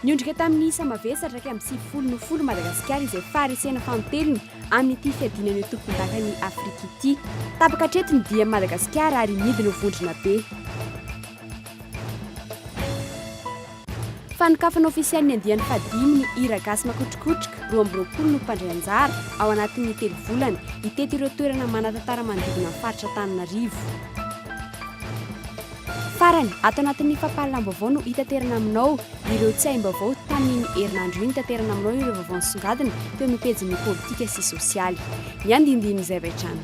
Niondrika tamin'ny isa mavesa hatraky amin'ny sivifolo no folo Madagasikara izay faharesena fanintelony amin'ity fiadinana eo tompondakan'i Afrika ity. Tapaka hatreto ny dian'i Madagasikara ary midina ho vondrona be. Fanokafana ofisialy ny andiany fahadimy ny hira gasy Makotrokotroka roa amby roapolo no mpandray anjara ao anatin'ny telo volana hitety ireo toerana manan-tantara manodidina ny faritra Antananarivo. Farany, ato anatin'ny fampahalalam-baovao no hitaterana aminao ireo tsiahim-baovao tamin'iny herinandro iny taterana aminao ireo vaovao nisongadina teo amin'ny pejin'ny politika sy sosialy. Ny andindinin'izay avy hatrany.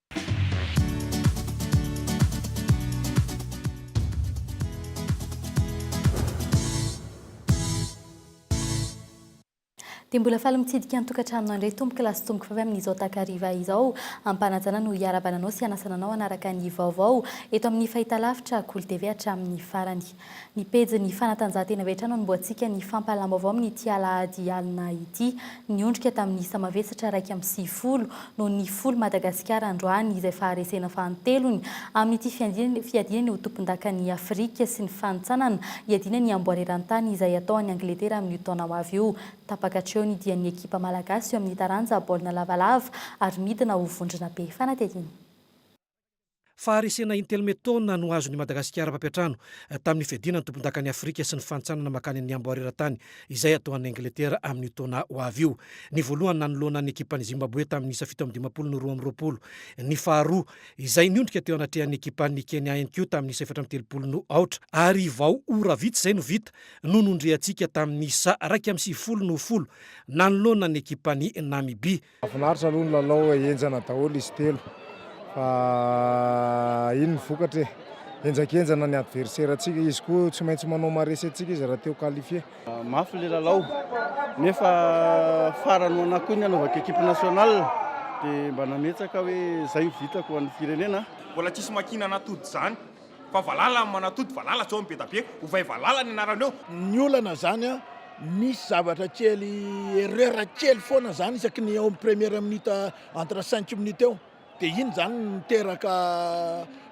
Dia mbola faly mitsidika ny tokantranonao indray tompoko lahy sy tompoko vavy amin'izao takariva izao. Am-panajana no hiarahabana anao sy hanasana anao hanaraka ny vaovao eto amin'ny fahitalavitra Kolo TV hatramin'ny farany. Ny pejin'ny fanatanjahantena avy hatrany no amboantsika ny fampahalam-baovao amin'ity alahady alina ity. Niondrika tamin'ny isa mavesatra iraika amby sivifolo no nifoly Madagasikara androany izay faharesena fahantelony amin'ity fiadiana ny ho tompondakan'i Afrika sy ny fanintsanana hiadiana ny amboara eran-tany izay atao any Angletera amin'io taona ho avy io. Tapaka hatreo ny dian'ny ekipa malagasy eo amin'ny taranja baolina lavalava ary midina ho vondrona be fanadihadiana. Faharesena intello metona no azon'i Madagasikara mpampiantrano tamin'ny fiadiana ny tompondakan'i Afrika sy ny fantsanana mankany amin'ny amboara eran-tany izay atao any Angletera amin'io taona ho avy io. Ny voalohany nanoloana ny ekipan'i Zimbabwe tamin'ny isa fito amby dimampolo no roa amby roapolo. Ny faharoa, izay niondrika teo anatrehan'ny ekipan'ny Kenya ihany koa tamin'ny isa efatra amby telopolo no aotra. Ary vao ora vitsy izay no vita no nondriantsika tamin'ny isa iraika amby sivifolo no folo nanoloana ny ekipan'i Namibia. Nahafinaritra aloha ny lalao e, henjana daholo izy telo fa iny ny vokatra e, henjakenjana ny adversaire antsika, izy koa tsy maintsy manao maharesy antsika izy raha te ho qualifier. Mafy ilay lalao nefa farany ho anà koa ny anaovako equipe nationale dia mba nametsaka hoe izay no vitako ho an'ny firenena. Mbola tsisy makiana an'atody izany Fa valala ny manatody, valala tsy ao ny be da be, ovay valala ny anaraleo. Ny olana zany a misy zavatra kely erreur kely foana zany isaky ny eo amin'ny première minute entre cinq minutes eo de iny zany no miteraka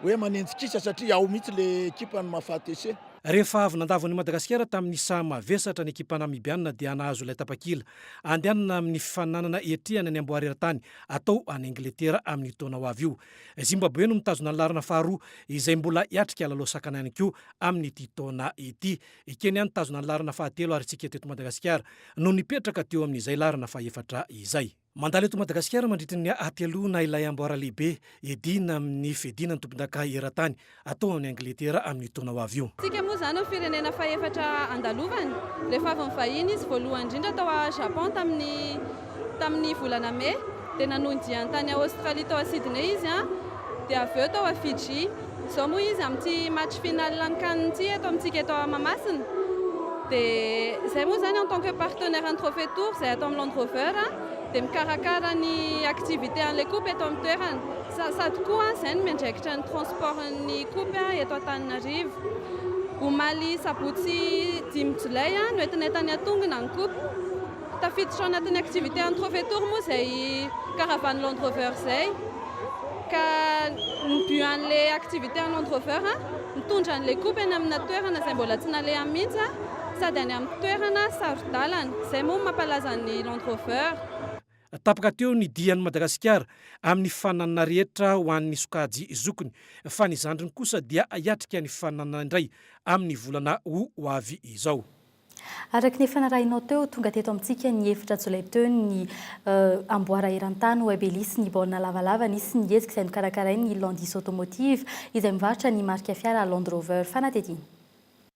hoe manenjy kisa satria ao mihitsy le ekipa ny mahafaty essai. Rehefa avy nandavo an'i Madagasikara tamin'ny saha mavesatra ny ekipa Namibiana dia nahazo ilay tapakila handehanana amin'ny fifaninanana hiatrehana ny amboara eran-tany atao any Angletera amin'io taona ho avy io. Zimbaboe no mitazona ny laharana faharoa izay mbola hiatrika lalao sakana ihany koa amin'ity taona ity. I Kenya nitazona ny laharana fahatelo ary tsy kely teto Madagasikara no nipetraka teo amin'izay laharana fahefatra izay. Mandalo eto Madagasikara mandritry ny hateloana ilay amboara lehibe edina amin'ny fiadiana ny tompondaka eran-tany atao any Angletera amin'io taona ho avy io. Tsika moa izany ho firenena fahefatra andalovany. Rehefa avy nivahiny izy voalohany indrindra tao a Japon tamin'ny tamin'ny volana Mey dia nanohy diany tany a Australie tao a Sydney izy an dia avy eo tao a Fiji. Izao moa izy amin'ity match final an'ny can ity eto amintsika eto a Mahamasina dia izay moa izany en tant que partenaire an'ny trophée tour izay atao amin'ny Land Rover dia mikarakara ny activité an'ilay coupe eto amin'ny toerana. Sasà tokoa izay no miandraikitra ny transport-n'ny Coop eto Antananarivo. Omaly sabotsy dimy jolay no entin'entany atongina ny Coop. Tafiditra ao anatin'ny activité an'ny Prefetory moa izay caravane Land Rover izay ka ny but an'ilay activité an'ny Land Rover mitondra an'ilay Coop eny amina toerana izay mbola tsy nalehany mihitsy sady any amin'ny toerana saro-dalana. Izay moa no mampalaza ny Land Rover. Tapaka teo ny dian'i Madagasikara amin'ny fifaninanana rehetra ho an'ny sokajy zokiny fa ny zandriny kosa dia hiatrika ny fifaninanana indray amin'ny volana ho avy izao. Araka ny efa narahinao teo, tonga teto amintsika ny efatra jolay teo ny amboara eran-tany Web Ellis ny baolina lavalava nisy ny hetsika izay nokarakarain'ny Landis Automotive izay mivarotra ny marika fiara Land Rover. Fanadihadiana.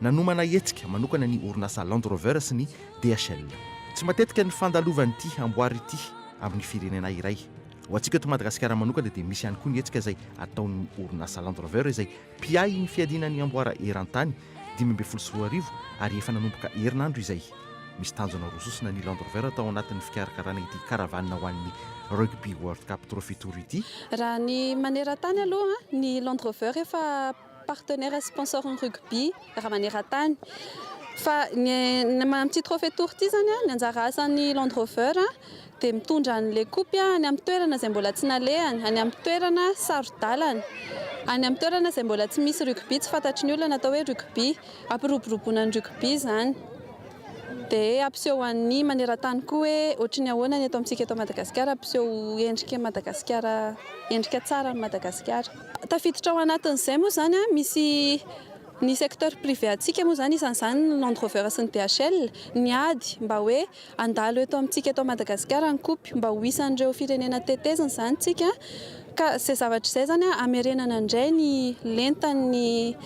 Nanomana hetsika manokana ny orinasa Land Rover sy ny DHL. Tsy matetika ny fandalovan'ity amboara ity amin'ny firenena iray. Ho antsika eto Madagasikara manokana dia misy ihany koa ny hetsika izay ataon'ny orinasa Land Rover izay mpiahy ny fiadiana ny amboara eran-tany dimy ambin'ny folo sy roa arivo ary efa nanomboka herinandro izay. Misy tanjona roa sosona ny Land Rover tao anatin'ny fikarakarana ity caravane ho an'ny Rugby World Cup Trophy Tour ity. Raha ny maneran-tany aloha, ny Land Rover efa Partenaire sponsor ny rugby raha maneran-tany. Fa ny amin'ity trophée tour ity izany ny anjara asan'ny Land Rover dia mitondra an'ilay kopy any amin'ny toerana izay mbola tsy nalehany, any amin'ny toerana saro-dalana, any amin'ny toerana izay mbola tsy misy rugby, tsy fantatry ny olona ny atao hoe rugby. Hampiroboroboana ny rugby izany. Dia hampiseho an'ny maneran-tany koa hoe ohatry ny ahoana ny eto amintsika eto Madagasikara, hampiseho endrika an'i Madagasikara, endrika tsara an'i Madagasikara. Tafiditra ao anatin'izay moa izany misy ny secteur privé antsika moa izany isan'izany ny Land Rover sy ny DHL. Ny ady mba hoe handalo eto amintsika eto Madagasikara ny kopy mba ho isan'ireo firenena tetezina izany isika ka izay zavatra izay izany hamerenana indray ny lentan'ny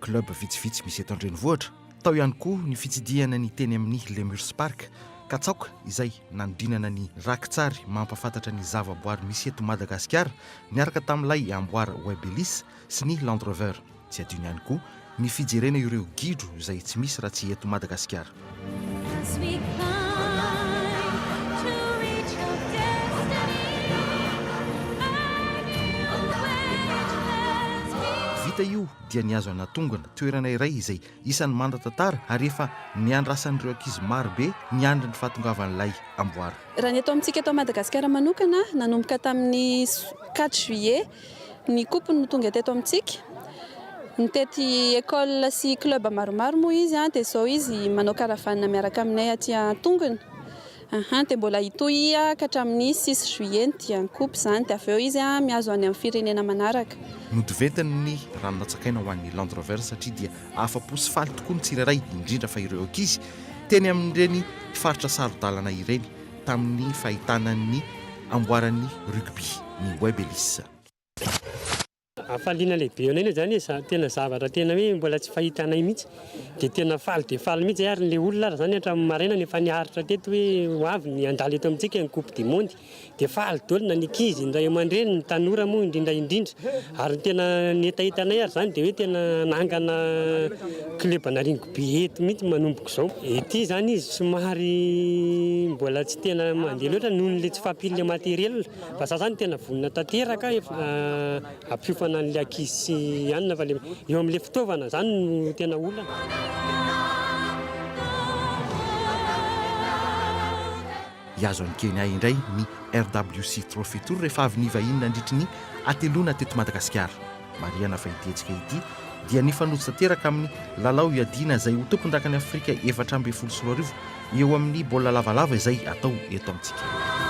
Club vitsivitsy misy eto an-drenivohitra. Tao ihany koa ny fitsidihana ny teny amin'ny Lemurs Park, Katsaoka izay nanodinana ny rakitsary mampahafantatra ny zavaboary misy eto Madagasikara niaraka tamin'ilay amboara Webelis sy ny Land Rover. Tsy adino ihany koa ny fijerena ireo gidro izay tsy misy raha tsy eto Madagasikara. Vita io dia nihazo anatongana toerana iray izay isan'ny mandatantara ary efa niandrasan'ireo ankizy maro be niandry ny fahatongavan'ilay amboara. Raha ny eto amintsika eto Madagasikara manokana, nanomboka tamin'ny quatre juillet Ny coupe no tonga teto amintsika. Nitety école sy club maromaro moa izy dia izao izy manao caravane miaraka aminay aty an-tongony. Ahan, dia mbola hitohy ka hatramin'ny six juillet ny dian'ny coupe izany dia avy eo izy mihazo any amin'ny firenena manaraka. Notiventiny ny rano natsakaina ho an'ny Land Rover satria dia afa-po sy faly tokoa ny tsirairay indrindra fa ireo ankizy teny amin'ireny faritra saro-dalana ireny. tamin'ny fahitana ny amboaran'ny rugby ny Web Ellis. Hafaliana lehibe anay izany e, tena zavatra tena hoe mbola tsy fahitanay mihitsy, dia tena faly dia faly mihitsy zay ary ilay olona ary izany hatramin'ny maraina no efa niaritra teto hoe ho avy ny handalo eto amintsika ny coupe du monde, dia faly daholo na ny ankizy, ny ray aman-dreny, ny tanora moa indrindra indrindra, ary ny tena ny hetahetanay ary izany dia hoe tena hanangana club-na rugby. Be eto mihitsy manomboka izao. Ety izany izy somary mbola tsy tena mandeha loatra noho ny tsy fahampian'ilay matériel. Fa izaho izany tena vonona tanteraka hampiofana an'ilay ankizy sy anona fa ilay eo amin'ilay fitaovana izany no tena olana. Hihazo an'i Kenya indray ny RWC Trophy Tour rehefa avy nivahiny nandritry ny hateloana teto Madagasikara. Marihana fa ity hetsika ity dia nifanojo tanteraka amin'ny lalao hiadiana izay ho tompondakan'i Afrika efatra ambin'ny folo sy roa arivo eo amin'ny baolina lavalava izay atao eto amintsika.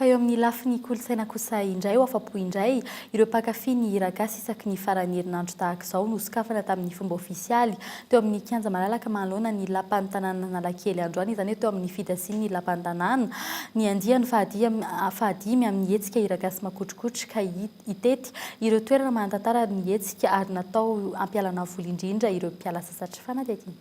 Fa eo amin'ny lafiny kolontsaina kosa indray ho afa-po indray ireo mpankafy ny hiragasy isaky ny faran'ny herinandro tahaka izao nosokafana tamin'ny fomba ofisialy teo amin'ny kianja malalaka manoloana ny lapan'ny tanànan'Analakely androany izany hoe teo amin'ny fidasian'ny lapan'ny tanàna ny andiany fahadimy amin'ny hetsika hiragasy makotrokotroka ka hitety ireo toerana manan-tantara ny hetsika ary natao hampialana voly indrindra ireo mpiala sasatra fanadihadiana.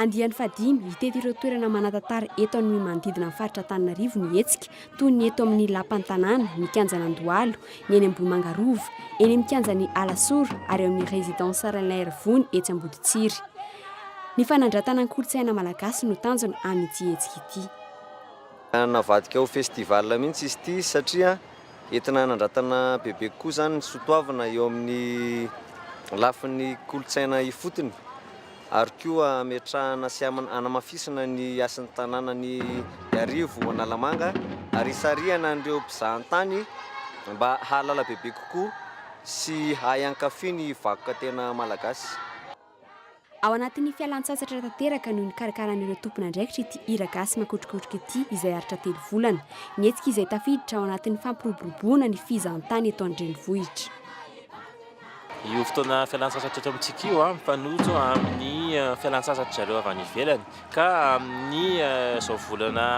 Andiany fahadimy, hitety ireo toerana manan-tantara eto amin'ny manodidina ny faritra Antananarivo ny hetsika, toy ny eto amin'ny Lapan'ny Tanàna, ny Kianjan'Andohalo, ny eny Ambohimanga Rova, eny amin'ny Kianjan'ny Alasora ary eo amin'ny Résidence Ralain Rivony etsy Amboditsiry. Ny fanandratana ny kolontsaina malagasy no tanjona amin'ity hetsika ity. Navadika ho festival mihitsy izy ity satria entina hanandratana bebe kokoa izany ny soatoavina eo amin'ny lafiny kolontsaina ifotony. ary koa hametrahana sy hanamafisana ny hasin'ny tanànan'i Iarivo Analamanga ary hisarihana an'ireo mpizahan-tany mba hahalala bebe kokoa sy hahay hankafy ny vakoka tena malagasy. Ao anatin'ny fialan-tsasatra tanteraka no nikarakaran'ireo tompon'andraikitra ity hira gasy makotrokotroka ity izay aritra telo volana. Ny hetsika izay tafiditra ao anatin'ny fampiroboroboana ny fizahan-tany eto an-drenivohitra. Io fotoana fialantsasatra eto amintsika io dia mifanojo amin'ny fialantsasatry zareo avy any ivelany ka amin'ny izao volana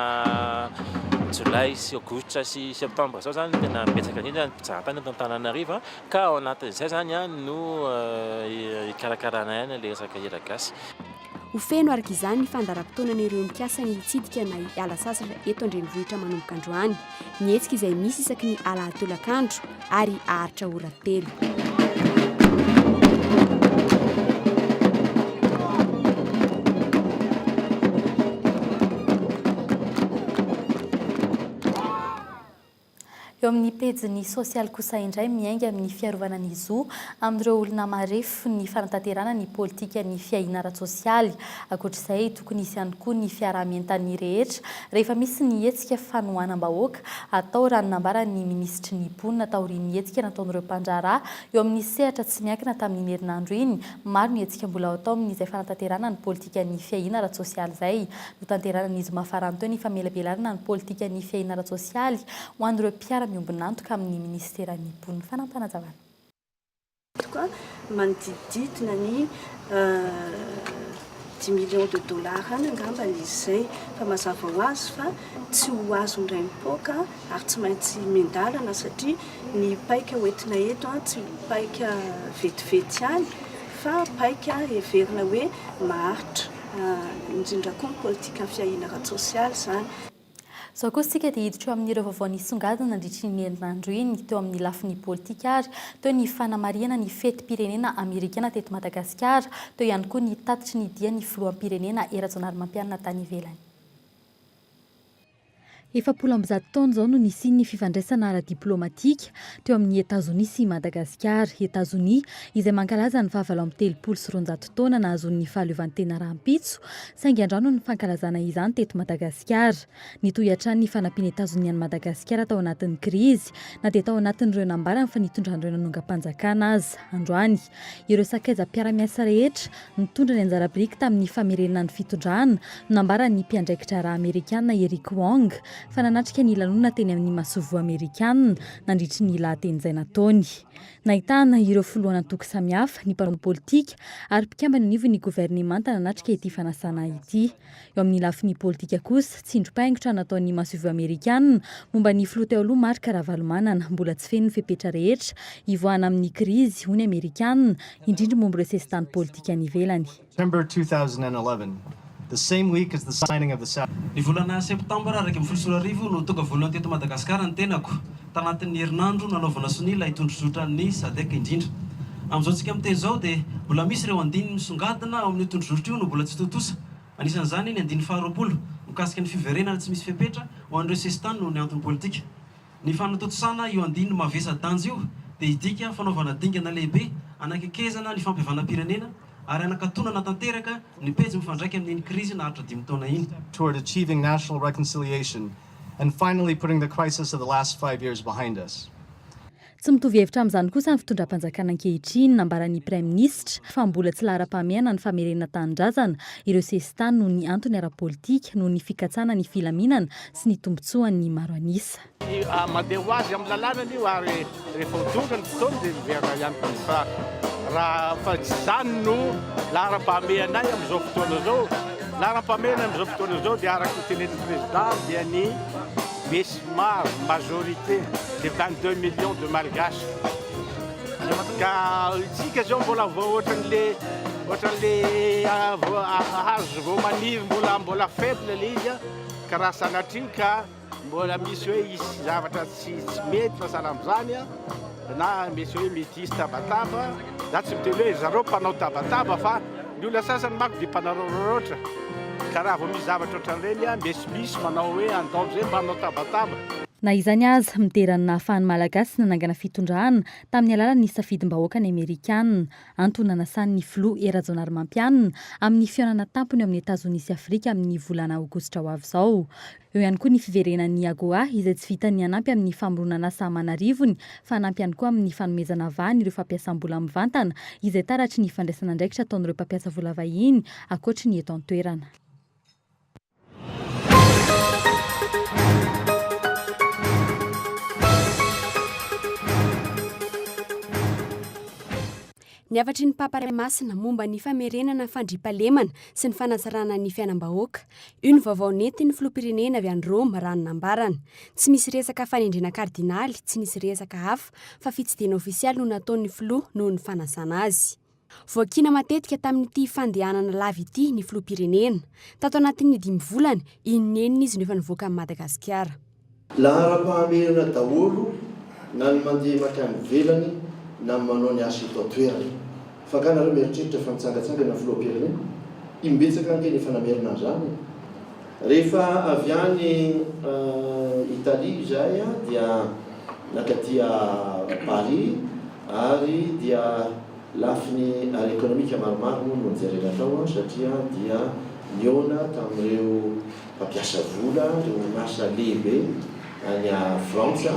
jolay sy aogositra sy septambra izao izany tena betsaka indrindra ny mpizahatany eto Antananarivo ka ao anatin'izay izany no hikarakaraina ihany ilay resaka hiragasy. Ho feno araka izany ny fandaharam-potoanan'ireo mikasa ny hitsidika na hiala sasatra eto an-drenivohitra manomboka androany. Ny hetsika izay misy isaky ny alahady tolakandro ary haharitra ora telo. Eo amin'ny pejiny sosialy kosa indray miainga amin'ny fiarovana ny zo amin'ireo olona marefo ny fanatanterahana ny politikan'ny fiahiana ara-tsosialy. Ankoatra izay, tokony hisy ihany koa ny fiaraha-mientan'ny rehetra rehefa misy ny hetsika fanohanam-bahoaka atao, raha ny nambaran'ny minisitry ny Mponina taorian'ny hetsika nataon'ireo mpandraharaha eo amin'ny sehatra tsy miankina tamin'iny herinandro iny. Maro ny hetsika mbola atao amin'izay fanatanterahana ny politikan'ny fiahiana ara-tsosialy izay. Hotanteranan' izy mafaranto ny famelabelarana ny politika ny fiahiana ara-tsosialy ho an' ireo mpiara-miombon'antoka amin' ny Minisiteran' ny mponina Fanampanajavan' antoka manodidididina ny dimy millions de dollars any angamba izy izay fa mazava ho azy fa tsy ho azon' ny raim-poaka ary tsy maintsy miandalana satria ny paika hoentina eto tsy paika vetivety ihany fa paika heverina hoe maharitra indrindra koa ny politikan'ny fiahiana ara-tsosialy izany. Izao kosa isika dia hiditra eo amin'ireo vaovao nisongadina nandritry iny herinandro iny teo amin'ny lafiny politika ary teo ny fanamarihana ny fetim-pirenena amerikana teto Madagasikara, teo ihany koa ny tatitry ny dian'ny filoham-pirenena Rajaonarimampianina tany ivelany. Efapolo amby zato taona izao no nisian'ny fifandraisana ara-diplaomatika teo amin'i Etazonia sy Madagasikara. Etazonia, izay mankalaza ny fahavalo amby telopolo sy roanjato taona nahazoan'ny fahaleovantena rahampitso, saingy andrano ny fankalazana izany teto Madagasikara. Nitohy hatrany ny fanampian'i Etazonia an'i Madagasikara tao anatin'ny krizy, na dia tao anatin'ireo nambarany fa nitondran'ireo nanongam-panjakana aza. Androany. Ireo sakaizam-piara-miasa rehetra nitondra ny anjara biriky tamin'ny famerenana ny fitondrana no nambaran'ny mpiandraikitra rà Amerikana Eric Wong fa nanatrika ny lanonana teny amin'ny masoivoho Amerikana nandritry ny lahateny izay nataony. Nahitana ireo filohan'antoko samihafa, ny mpanao politika ary mpikambana anivon'ny governemanta nanatrika ity fanasana ity. Eo amin'ny lafiny politika kosa, tsindrim-paingotra nataon'ny masoivoho amerikana momba ny filoha teo aloha Marc Ravalomanana, mbola tsy feno ny fepetra rehetra hivoahana amin'ny krizy, hoy ny amerikana, indrindra momba ireo sesitany politika any ivelany. Ny volana septambra iraika ambin'ny folo sy roa arivo no tonga voalohany teto Madagasikara ny tenako. Tanatin'ny herinandro nanaovana sonia ilay tondrozotran'ny Sadc indrindra. Amin'izao antsika miteny izao dia mbola misy ireo andininy misongadina ao amin'io tondrozoritra io no mbola tsy tontosa. Anisan'izany ny andininy faharoapolo mikasika ny fiverenana tsy misy fepetra ho an'ireo sesitany noho ny antony politika. Ny fanatontosana io andininy mavesa-danja io dia hidika fanaovana dingana lehibe hanakekezana ny fampihavanam-pirenena ary hanakatonana tanteraka ny pejy mifandraika amin'iny krizy naharitra dimy taona iny. toward achieving national reconciliation Tsy mitovy hevitra amin'izany kosa ny fitondram-panjakana ankehitriny. Nambaran'ny Praiminisitra fa mbola tsy laharam-pahamehana ny famerenana tanindrazana ireo sesitany noho ny antony ara-politika, noho ny fikatsana ny filaminana sy ny tombontsoan'ny maro an'isa. Rehefa ho tonga ny fotoana dia miverina ihany koa ny faritra, raha tsy izany no laharam-pahamehanay amin'izao fotoana izao. Ny laharam-pahamehana amin'izao fotoana izao dia araka ny tenenin'ny prezida dia ny besimaro, majorité, dia vingt deux millions de malgaches. Ka isika izao mbola vao ohatran'le ohatran'le hazo vao maniry mbola mbola faible ilay izy ka raha sanatria ka Mbola misy hoe hisy zavatra tsy tsy mety fa sahala amin'izany a, na misy hoe mety hisy tabataba, za tsy miteny hoe zareo mpanao tabataba fa ny olona sasany manko dia mpanaraoraotra, ka raha vao misy zavatra ohatran'ireny a, misimisy manao hoe handao izay mba hanao tabataba. Na izany aza, midera ny nahafahan'ny Malagasy nanangana fitondrana tamin'ny alalan'ny safidim-bahoaka ny Amerikana. Antony nanasan'ny Filoha Hery Rajaonarimampianina amin'ny fihaonana tampony ao amin'i Etazonia sy Afrika amin'ny volana aogositra ho avy izao. Eo ihany koa ny fiverenan'ny AGOA izay tsy vitan'ny hanampy amin'ny famoronan'asa aman'arivony fa hanampy ihany koa amin'ny fanomezana vahana ireo fampiasam-bola mivantana izay taratry ny fandraisan'andraikitra ataon'ireo mpampiasa vola vahiny ankoatry ny eto an-toerana. Ny hafatry ny Papa Ray Masina momba ny famerenana fandriampahalemana sy ny fanatsarana ny fiainam-bahoaka. Io ny vaovao nentin'ny Filoham-pirenena avy any Roma raha ny nambarany. Tsy misy resaka fanendrena kardinaly, tsy nisy resaka hafa fa fitsidihana ofisialy no nataon'ny Filoha noho ny fanasana azy. Voakiana matetika tamin'ity fandehanana lava ity ny Filoham-pirenena. Tato anatin'ny dimy volana, inon'inona izy no efa nivoaka an'i Madagasikara. Laharam-pahamehana daholo na ny mandeha mankany ivelany na ny manao ny asa eto an-toerana. Fa angaha nareo mieritreritra fa nitsangatsangana ny filoham-pirenena? Imbetsaka ange ny efa namerina an'izany e! Rehefa avy any Italie izahay dia nankaty Paris ary dia lafiny ara-ekonomika maromaro moa no nojerena tao satria dia nihaona tamin'ireo Mpampiasa vola ary orinasa lehibe any Frantsa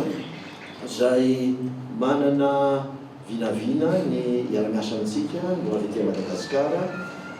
izay manana vinavina ny hiara-miasa amintsika no avy aty Madagasikara,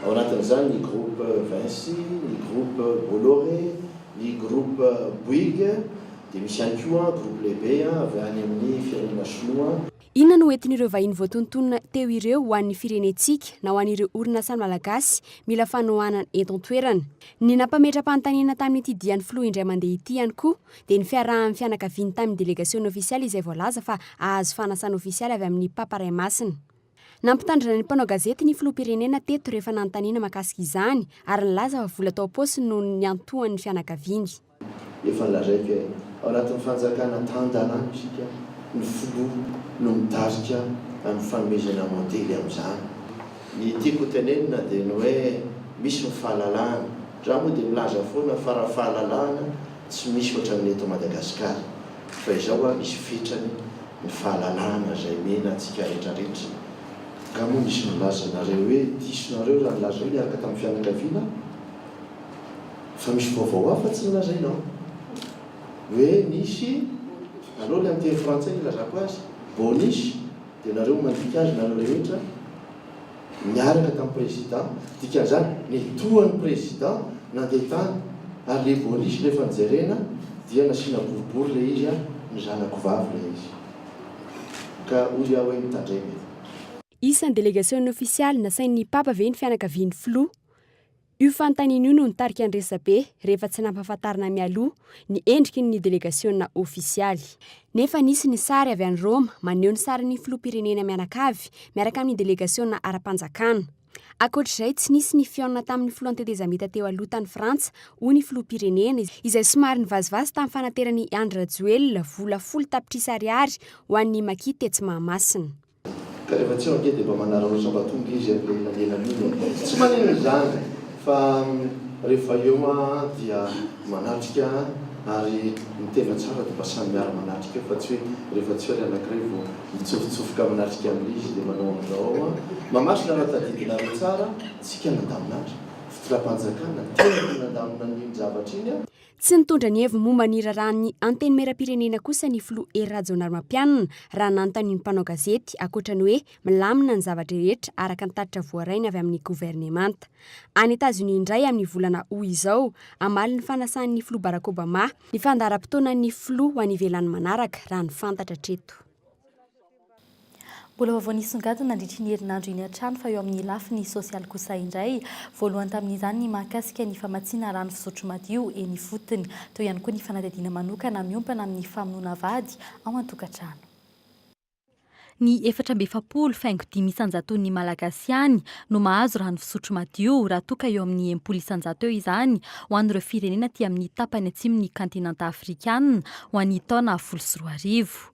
ao anatin'izany ny Groupe Vinci, ny Groupe Bolloré, ny Groupe Bouygues, dia misy ihany koa Groupe lehibe avy any amin'ny firenena Shinoa. Inona no hoentin'ireo vahiny voatontonina teo ireo ho an'ny firenentsika na ho an'ireo orinasan'ny Malagasy mila fanohanana eto an-toerana? Ny nampametra-panontaniana tamin'ity dian'ny filoha indray mandeha ity ihany koa dia ny fiarahan'ny fianakaviany tamin'ny delegasiona ofisialy izay voalaza fa hahazo fanasana ofisialy avy amin'ny Papa Ray Masina. Nampitandrina ny mpanao gazety ny filoham-pirenena teto rehefa nanontaniana mahakasika izany ary nilaza fa vola tao am-paosiny no niantohan'ny fianakaviany. Efa lazaiko e, ao anatin'ny fanjakana tan-dalàna isika, ny filoha no mitarika amin'ny fanomezana modely amin'izany. Ny tiako hotenenina dia ny hoe misy ny fahalalahana, za moa dia milaza foana fa raha fahalalahana tsy misy ohatran'ny eto Madagasikara, fa izao hoa misy fetrany ny fahalalahana izay omena antsika retraretra. Nga moa nisy nilaza anareo hoe diso nareo raha nilaza hoe niaraka tamin'ny fianakaviana? Fa misy vaovao hafa tsy nolazaina ao hoe nisy aleo ilay amin'ny teny frantsay no ilazako azy, bonus dia nareo mandika azy nareo rehetra niaraka tamin'ny président dikan'izany nitohan'ny président nandeha tany ary ilay bonus rehefa nojerena dia nasiana boribory ilay izy ary ny zanako vavy ilay izy ka hoy aho hoe mitandrema e. Isan'ny delegasion'ny ofisialy nasain'ny Papa ve ny fianakavian'ny Filoha? Io fanontaniana io no nitarika ny resabe rehefa tsy nampahafantarina mialoha ny endriky ny delegasiona ofisialy. Nefa nisy ny sary avy any Roma maneho ny sarin'ny filoham-pirenena mianakavy miaraka amin'ny delegasiona ara-panjakana. Ankoatr'izay, tsy nisy ny fihaonana tamin'ny filohan'ny tetezamita teo aloha tany Frantsa, hoy ny filoham-pirenena, izay somary nivazivazy tamin'ny fanaterany i Andry Rajoelina vola folo tapitrisa ariary ho an'ny maki tetsy Mahamasina. Ka rehefa tsy ao ange dia mba manaraotra mba tonga izy amin'iny elanelan iny e! Tsy maninona izany fa rehefa eo aho dia manatrika ary ny tena tsara dia mba samy miara manatrika eo fa tsy hoe rehefa tsy eo ilay anankiray vao mitsofotsofoka manatrika amin'ilay izy dia manao an'izao aho an! Mamaritra raha tadidinareo tsara, tsika nandaminatra, fitondram-panjakana, tena no nandamina an'iny zavatra iny an! Tsy nitondra ny heviny momba ny raharahan'ny Antenimierampirenena kosa ny filoha Hery Rajaonarimampianina raha nanontanian'ny mpanao gazety ankoatra ny hoe milamina ny zavatra rehetra araka ny tatitra voarainy avy amin'ny governemanta any Etazonia indray amin'ny volana Aout izao hamaly ny fanasan'ny filoha Barack Obama ny fandaharam-potoanan'ny filoha ho any ivelany manaraka raha ny fantatra hatreto. Mbola vaovao nisongadina nandritry iny herinandro iny hatrany fa eo amin'ny lafiny sosialy kosa indray. Voalohany tamin'izany ny mahakasika ny famatsiana rano fisotro madio eny ifotony. Teo ihany koa ny fanadihadiana manokana miompana amin'ny famonoana vady ao an-tokantrano. Ny efatra amby efapolo faingo dimy isan-jaton'ny Malagasy ihany no mahazo rano fisotro madio raha toa ka eo amin'ny enimpolo isan-jato eo izany ho an'ireo firenena aty amin'ny tapany atsimon'ny kantinanta afrikana ho an'ny taona folo sy roa arivo.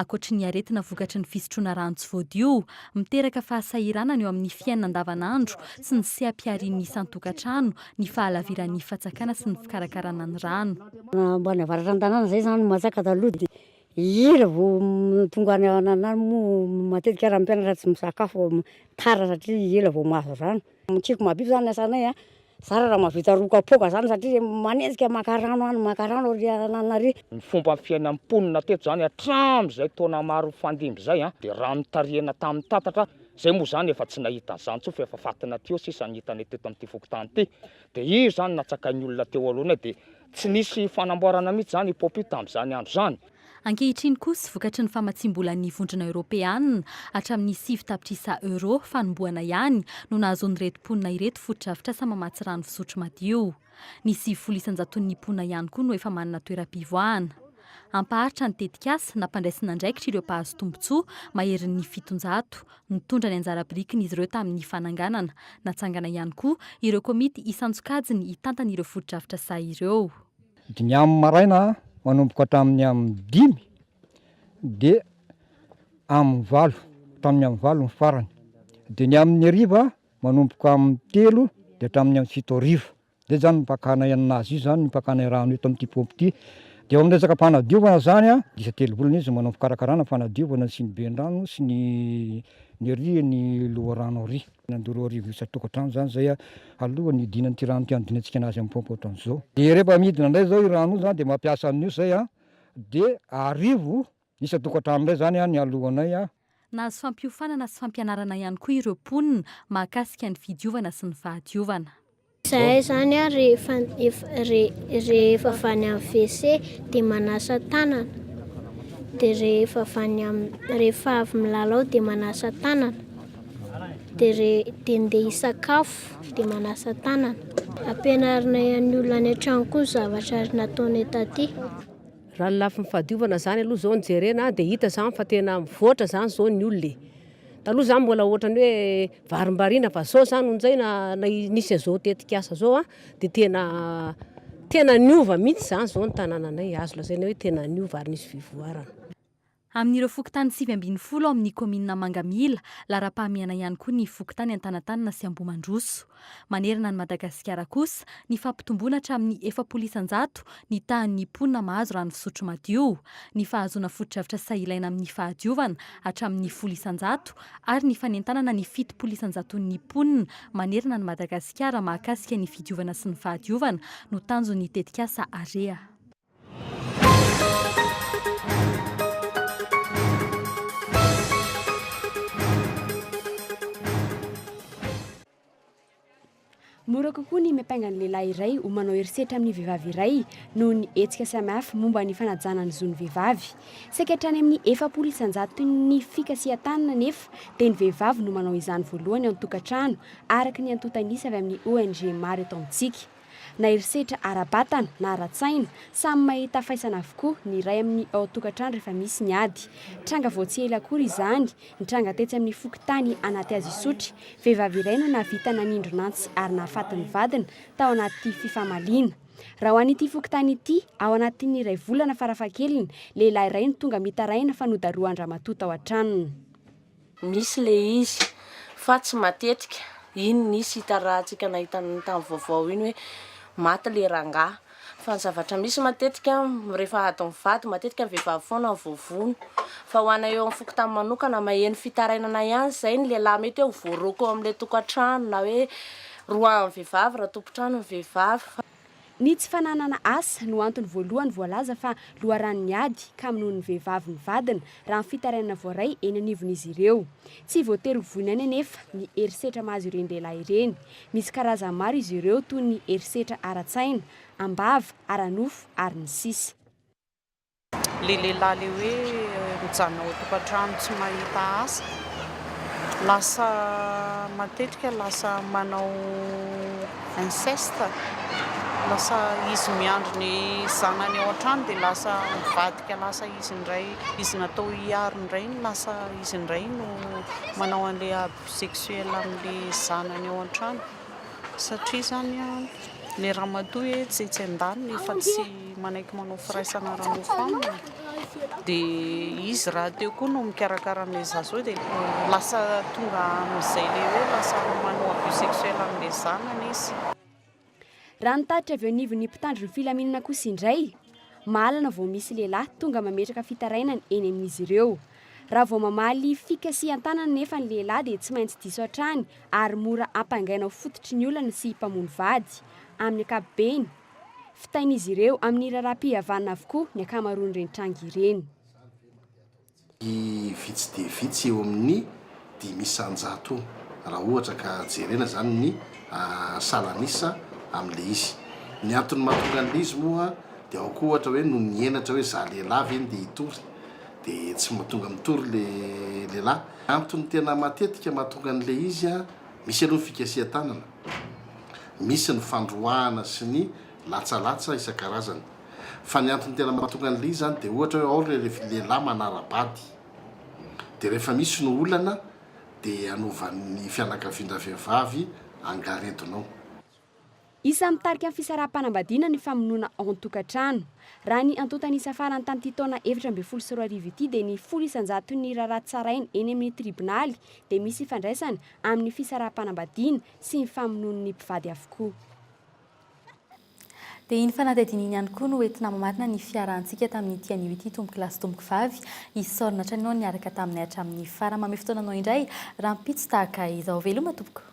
Ankoatry ny aretina vokatry ny fisotroana rano tsy voadio, miteraka fahasahiranana eo amin'ny fiainana andavanandro sy ny seha-piharian'ny isan-tokantrano ny fahalaviran'ny fatsakana sy ny fikarakarana ny rano. Mba navaratra an-tanàna zay zany matsaka taloha de ela vao tonga any an'ahy moa matetika raha ny mpianatra tsy misakafo tara satria ela vao mahazo rano, mikiky mahabibo zany ny asanay a. Zara raha mahavita roa kapoaka zany satria manenjika maka rano any maka rano ary anana ary. Ny fomba fiainan'ny mponina teto zany hatramin'izay taona maro nifandimby zay an, dia rano nitarihina tamin'ny tatatra, zay moa zany efa tsy nahita an'izany intsony fa efa fatin'aty eo sisa ny hitanay teto amin'ity fokontany ity, dia io zany natsakain'ny olona teo alohany eo dia. Tsy nisy fanamboarana mihitsy izany i Poppy tamin'izany andro izany. Ankehitriny kosa, vokatry ny famatsiam-bolan'ny Vondrona Eoropeanina, hatramin'ny sivy tapitrisa euro fanombohana ihany no nahazoan'ireto mponina ireto fotodrafitrasa mamatsy rano fisotro madio. Ny sivifolo isan-jaton'ny mponina ihany koa no efa manana toeram-pivoahana. Hampaharitra ny tetikasa nampandraisan'andraikitr'ireo mpahazo tombontsoa maherin'ny fitonjato. Nitondra ny anjara birikin'izy ireo tamin'ny fananganana. Natsangana ihany koa ireo komity isan-tsokajiny hitantana ireo fotodrafitra sahy ireo. Dimy amin'ny maraina manomboka hatramin'ny amin'ny dimy dia amin'ny valo, hatramin'ny amin'ny valo ny farany. Dia ny amin'ny hariva manomboka amin'ny telo dia hatramin'ny amin'ny fito hariva. Dia izany no pakana aina nazy io izany, ny pakana rano eto amin'ity paompy ity. Dia eo amin'ny resaka fanadiovana izany, isa telo volana izy no manao ny fikarakarana, fanadiovana sy ny bendrano sy ny ny ery ny loharano ery. Nandoro roa arivo isan-tokantrano izany izay alohan'ny hidiana an'ity rano ity hanodinantsika anazy amin'ny paompy ohatran'izao. Dia rehefa midina indray izao io rano io izany dia mampiasa an'io izay dia arivo Isan-tokantrano indray izany an, nialohanay an. Nahazo fampiofanana sy fampianarana ihany koa ireo mponina mahakasika ny fidiovana sy ny fahadiovana. Izahay izany an, rehefa rehefa avy any amin'ny WC dia manasa tanana, dia rehefa avy any amin'ny, rehefa avy milalao dia manasa tanana, dia rehe, dia ndeha hisakafo dia manasa tanana. Ampianarinay an'ny olona any an-trano koa ny zavatra nataonay taty. Raha ny lafiny fahadiovana zany aloha zao no jerena dia hita zany fa tena mivoatra zany zao ny olona e. Taloha zany mbola ohatran'ny hoe varimbariana fa zao zany onjay na nisy an'izao tetikasa zao dia tena tena niova mihitsy zany zao ny tanananay, azo lazaina hoe tena niova ary nisy fivoarana. Amin'ireo fokontany sivy ambin'ny folo ao amin'ny kaominina Mangamila, laharam-pahamehana ihany koa ny fokontany Antanatanana sy Ambohimandroso. Manerana an'i Madagasikara kosa, nifampitomboana hatramin'ny efapolo isan-jato ny tahan'ny mponina mahazo rano fisotro madio, ny fahazoana fotodrafitra sahy ilaina amin'ny fahadiovana hatramin'ny folo isan-jato ary ny fanentanana ny fitopolo isan-jaton'ny mponina manerana an'i Madagasikara mahakasika ny fidiovana sy ny fahadiovana no tanjon'ny tetikasa Area. Mora kokoa ny miampanga ny lehilahy iray ho manao herisetra amin'ny vehivavy iray noho ny hetsika samihafa momba ny fanajana ny zon'ny vehivavy. Saika hatrany amin'ny efapolo isan-jaton'ny fikasihan-tanana anefa dia ny vehivavy no manao izany voalohany ao an-tokantrano, araka ny antontan'isa avy amin'ny ONG maro eto amintsika. Na herisetra ara-batana na ara-tsaina, samy mahita faisana avokoa ny iray amin'ny ao an-tokantrano rehefa misy ny ady. Tranga vao tsy ela akory izany, nitranga tetsy amin'ny fokontany Anatihazisotry, vehivavy iray no nahavita nanindron'antsy ary nahafaty ny vadiny tao anaty fifamaliana. Raha ho an'ity fokontany ity, ao anatin'ny iray volana farafahakeliny, lehilahy iray no tonga mitaraina fa nodarohan-dramatoa tao an-tranony. Misy le izy fa tsy matetika, iny nisy hita rahantsika nahita an'iny tamin'ny vaovao iny hoe maty le rangahy, fa ny zavatra misy matetika rehefa ady mivady matetika ny vehivavy foana no voavono, fa ho anay eo amin'ny fokontany manokana maheno fitarainana ihany izay ny lehilahy mety hoe ho voaroaka ao amin'ilay tokantrano na hoe roahan'ny vehivavy raha tompon-trano ny vehivavy fa Ny tsy fananana asa no antony voalohany voalaza fa loharanon'ny ady kamonoan'ny vehivavy ny vadiny, raha ny fitarainana voaray eny anivon'izy ireo. Tsy voatery ho voiny any anefa ny herisetra mahazo ireny lehilahy ireny. Misy karazany maro izy ireo toy ny herisetra ara-tsaina, am-bava, ara-nofo, ary ny sisa. Le lehilahy le hoe mijanona ao an-tokantrano tsy mahita asa, lasa matetika lasa manao inceste, lasa izy miandry ny zanany ao an-trano dia lasa mivadika lasa izy indray, izy natao hiaro ny rainy lasa izy indray no manao an'ilay abus sexuel amin'ilay zanany ao an-trano. Satria zany le ramatoa e tsy etsy andaniny efa tsy manaiky manao firaisana ara nofo aminy de izy raha teo koa no mikarakara anle zaza hoe de lasa tonga amizay le hoe lasa manao abus sexuel amle zanany izy. Raha ny tatitra avy eo anivon'ny mpitandro ny filaminana kosa indray, mahalana vao misy lehilahy tonga mametraka fitarainana eny amin'izy ireo. Raha vao mamaly fika sy an-tanana anefa ny lehilahy dia tsy maintsy diso hatrany ary mora ampangaina ho fototry ny olana sy mpamono vady, amin'ny ankapobeny. Fitain'izy ireo amin'ny raharaham-pihavanana avokoa ny ankamaroan'ireny tranga ireny. Vitsy dia vitsy eo amin'ny dimy isan-jato raha ohatra ka jerena izany ny salan'isa amin'ilay izy. Ny antony mahatonga an'ilay izy moa dia ao koa ohatra hoe noho ny henatra hoe izaho lehilahy ve no dia hitory dia tsy tonga mitory ilay lehilahy. Antony tena matetika mahatonga an'ilay izy, misy aloha ny fikasihan-tanana, misy ny fandroahana sy ny latsalatsa isan-karazany. Fa ny antony tena mahatonga an'ilay izy izany dia ohatra hoe ao ilay lehilahy manara-bady. Dia rehefa misy no olana dia anovan'ny fianakavian-dravehivavy angaredonao. Isan'ny mitarika ny fisaraham-panambadiana ny famonoana ao an-tokantrano. Raha ny antontan'isa farany tamin'ity taona efatra ambin'ny folo sy roa arivo ity dia ny folo isan-jaton'ny raharaha tsaraina eny amin'ny tribonaly dia misy ifandraisany amin'ny fisaraham-panambadiana sy ny famonoan'ny mpivady avokoa. Dia iny fanadihadiana iny ihany koa no entina mamarina ny fiarahantsika tamin'ity anio ity tompoko lahy sy tompoko vavy. Isaorana hatrany anao niaraka taminay hatramin'ny farany. Mamehy fotoananao indray rahampitso tahaka izao. Veloma tompoko.